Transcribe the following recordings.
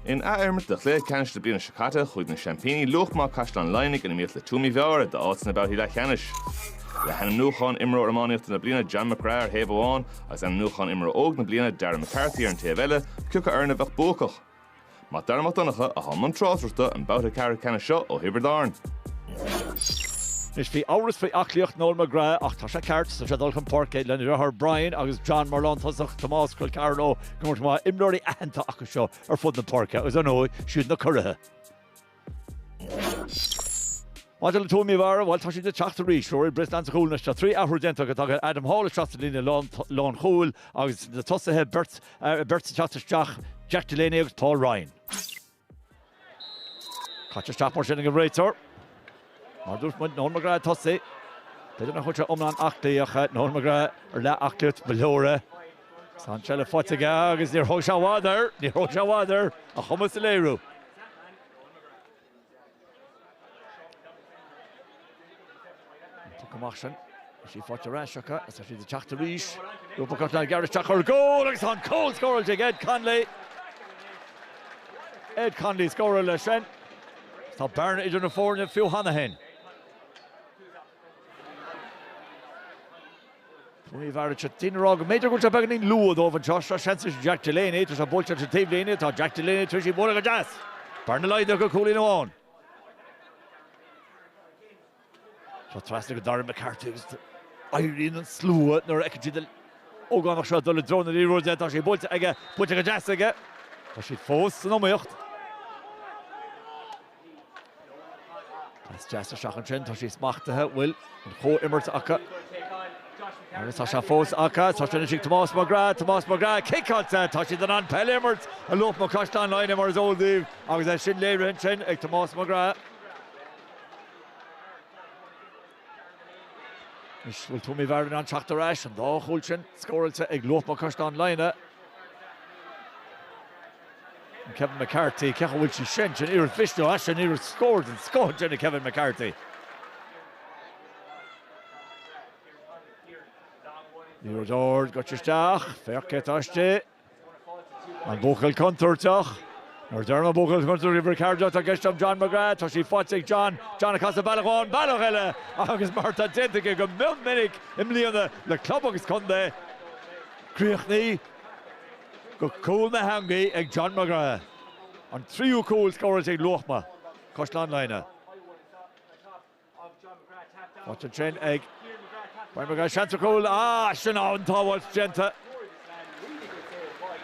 In athimirt de chluiche ceannais na bliana seo caite, chuaigh na seaimpíní Luachma Caisleán Laighnigh in iomaíocht le Tuaim Uí Mheára d'áit sna babhtaí leathcheannais. Le hainmniúchán Imreoir Iománaíochta na Bliana John McGrath ar thaobh amháin agus ainmniúchán Imreoir Óg na Bliana Darren McCarthy ar an taobh eile, cé acu foireann a bheadh buacach. Mac Dara Mac Donncha atá i mbun tráchtaireachta an babhta ceathrú ceannais seo ó Thiobraid Árann. Anois bhí amhras faoi aclaíocht Noel McGrath ach tá sé ceart, tá sé ag dul chun páirce lena dheartháir Brian agus John mar lántosach Tomás col ceathar leo go mairt mhaith imreoirí aitheanta acu seo ar fud na páirce agus ar ndóigh siad na curaithe. Maidir le Tuaim Uí Mheára, bhail, tá siad ag teacht arís. Rory Brislane sa chúl anois. Tá trí athrú déanta acu. Tagann Adam Hall isteach sa líne lán chúil agus na tosaithe beirt ag teacht isteach, Jack Delaney agus Paul Ryan. Caite isteach mar sin ag an réiteoir. Mar dúirt muid, Noel McGrath ag tosú. B'fhéidir nach bhfuil sé iomlán aclaí ach Noel McGrath ar leath aclaíocht, ba leor é. Tá an seilbh faighte aige agus níor thóg sé i bhfad air, níor thóg sé i bhfad air a chumas a léiriú. Tugtha amach ansin, tá sí faighte ar ais acu agus tá siad ag teacht arís. Luachma Caisleán Laighnigh ag gearradh isteach ar an gcúl agus tá an cúl scóráilte ag Ed Connolly. Ed Connolly a scóráil é sin. Tá bearna idir na foirne fiú cheana féin. Tuaim Uí Mheára seo tinn a rá go mb'fhéidir go bhfuil sé beagáinín luath dóibh anseo. Seo seans anois Jack Delaney agus í buailte ar an taobhlíne. Tá Jack Delaney tar éis í a bhualadh go deas. Bearna laghdaithe go cúilín amháin. Seo trasna go Darren McCarthy agus éiríonn an slua nuair a fheiceann siad an t-ógánach seo ag dul i dtreo na liathróide. Tá sé buailte aige, buailte go deas aige. Tá siad fós san iomaíocht. Pas deas isteach ansin, tá sí smachtaithe, bhfuil an chomh-imirt acu agus tá sé fós acu. Tá sé anois ag Tomás McGrath, Tomás McGrath, ciceáilte, tá siad in ann peil a imirt i Luachma Caisleán Laighnigh mar is eol daoibh agus é sin léirithe ansin ag Tomás McGrath. Anois bhfuil Tuaim Uí Mheára in ann teacht ar ais, an dá chúl sin scóráilte ag Luachma Caisleán Laighnigh. An Kevin McCarthy, cén chaoi a bhfuil sí sin? Sin iarracht mhiste ó ais, sin iarracht scór den scoth ansin ag Kevin McCarthy. Liathróid ard gaibhte isteach, féach cé atá istigh. An buachaill contúirteach? Nuair deirim an buachaill contúirteach bhí Ricardo atá i gceist agam John McGrath, tá sí faighte ag John, John ag casadh bealach amháin bealach eile agus mar atá déanta aige go mion minic i mbliana le club agus contae, críochnaithe go cúl na heangaí ag John McGrath, an tríú cúl scóráilte ag Luachma, Caisleán Laighnigh. Faighte ansin ag Brian McGrath, seans ar chúl, ach sin an-tsábháilt déanta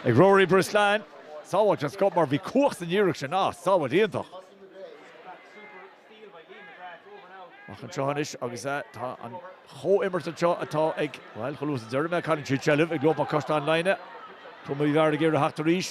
ag Rory Brislane. Sábháilt den scoth mar bhí cumhacht san iarracht sin ach sábháilt iontach. Ach anseo anois agus tá an chomhimirt anseo atá ag, bhuel, chomh luath is a deirim é, cailleann siad seilbh ag Luachma Caisleán Laighnigh. Tuaim Uí Mheára ag iarraidh a theacht ar ais.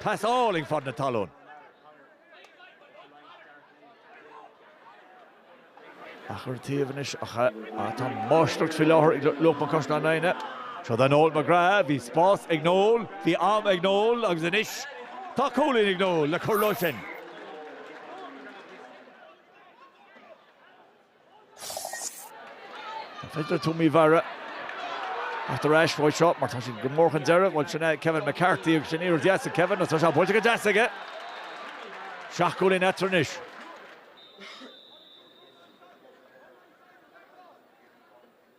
Pas álainn fan na talún. Amach ar an taobh anois ach tá máistreacht faoi láthair ag Luachma Caisleán Laighnigh. Seo do Noel McGrath, bhí spás ag Noel, bhí am ag Noel agus anois tá cúilín ag Noel le cur leo sin. An féidir le Tuaim Uí Mheára teacht ar ais uaidh seo mar tá siad go mór chun deiridh. Bhuel, sin é Kevin McCarthy agus sin iarracht deas ag Kevin agus tá sé buailte go deas aige. Seacht gcúilín eatarthu anois.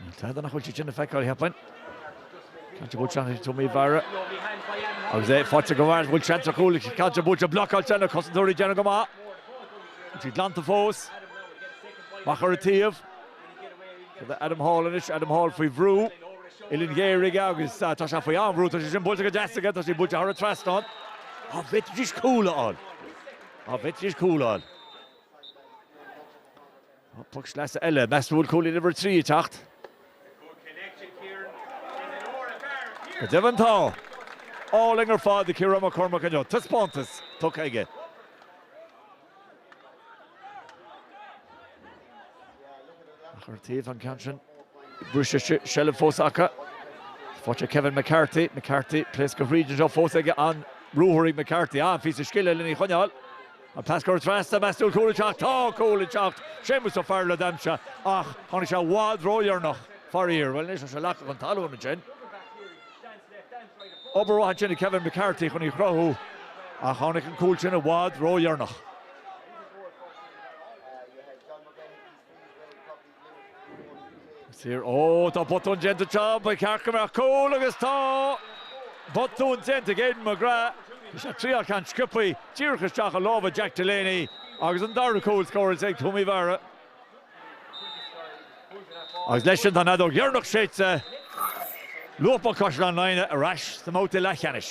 Níl tada nach bhfuil siad sin le feiceáil, a cheapfainn. Ceann sin buailte ann ag Tuaim Uí Mheára. Agus é faighte go maith, bhfuil seans ar chúl ann. Ceann sin buailte blocáilte na cosantóirí ag déanamh go maith. Bhfuil sí glanta fós. Amach ar an taobh chuig Adam Hall anois, Adam Hall faoi bhrú. Uillinn ghéar aige agus tá sé faoi an-bhrú. Tá sé sin buailte go deas aige. Tá sí buailte thar an trasnán. Á bhí deis cúil ann. Á bhí deis cúil ann. Poc sleasa eile. Meas tú an bhfuil cúilín uimhir a trí ag teacht? Go deimhin tá! Álainn ar fad ag Ciarán McCormack inniu. Taispeántas tugtha aige. Amach ar an taobh an ceann sin, briseadh seilbh fós acu. Faighte ag Kevin McCarthy, McCarthy ag pléascadh tríd anseo fós aige an ruathar ag McCarthy. An-phíosa scile lena choinneáil. An pas cóir trasna, meas tú an bhfuil cúl ag teacht? Tá cúl ag teacht! Séamus Ó Fearghail a d'aimsigh ach tháinig sé i bhfad ródheireanach, faraor. Bhuel anois, tá sé leagtha chun talún ansin. Obair mhaith ansin ag Kevin McCarthy chun í a chruthú ach tháinig an cúl sin i bhfad ródheireanach. Siar, oh, tá botún déanta anseo, ba cheart go mbeadh cúl agus tá botún déanta ag Aidan McGrath. Bhí sé ag triail ceann sciobthaí díreach isteach i lámha Jack Delaney agus an dara cúl scóráilte ag Tuaim Uí Mheára. Agus leis sin tá an fheadóg dheireanach séidte, Luachma Caisleán Laighnigh ar ais sa mbabhta leathcheannais.